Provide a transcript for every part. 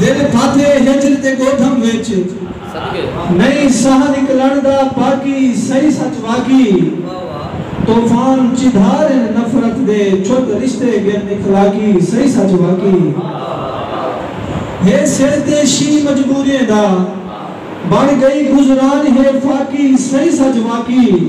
جیندے پھاتے ہجر تے گودھم وچ نئیں ساہ نکلݨ دا باقی سئیں سچ واقعی طوفان چدھار ہن نفرت دے چھت رشتے غیر اخلاقی سئیں سچ واقعی ہے سر تے شینہہ مجبوریں دا بݨ ڳئی گزران ہے فاقی سئیں سچ واقعی۔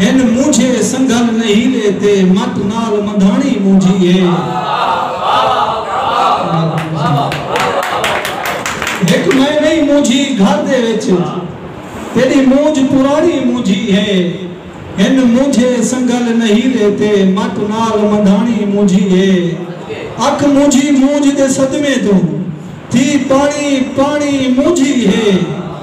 ہن مونجھے سنگھل نہیل اے تے مٹ نال مندھاݨی مونجھی اے ہک میں نئیں مونجھی گھر دے وچ تیݙی مونجھ پراݨی مونجھی اے ہن مونجھے سنگھل نہیل اے تے مٹ نال مندھاݨی مونجھی اے اکھ مونجھی مونجھ دے صدمے توں تھی پاݨی پاݨی مونجھی اے۔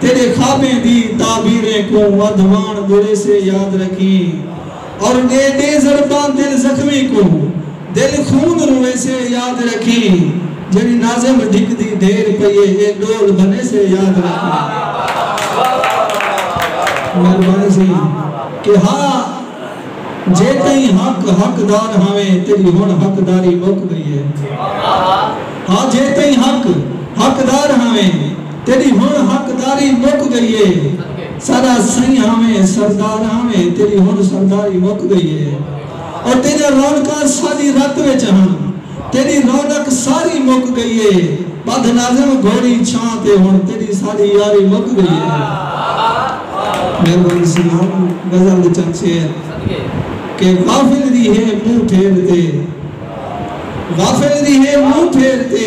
تیݙے خوابیں دی تعبیریں کوں ودھواݨ ٻولیسے یاد رکھیں اور ݙے ݙے ضرباں دل زخمی کوں دل خون رویسے یاد رکھیں جیڑھی ناظم ڈھک دی ڈھیر پئی اے اے ڈول بنیسے یاد رکھیں۔ مہربانی سی کہ ہا جے تئیں حق حق دار ہاویں تیݙی ہݨ حق داری مک گئی اے ہا جے تئیں حق حق دار ہاویں تیݙی ہݨ حقداری مک ڳئی اے۔ ساݙا سئیں آویں سردار آویں تیݙی ہݨ سرداری مک ڳئی اے۔ او تیݙیاں رونقاں ساݙی رت وچ ہن تیݙی رونق ساری مک ڳئی اے۔ ٻدھ ناظم گھوڑی چھاں تے ہݨ تیݙی ساݙی یاری مک ڳئی اے۔ مہربانی سلام غزل دے چند شعر کہ غافل دی ہے منہ پھیر تے غافل دی ہے منہ پھیر تے۔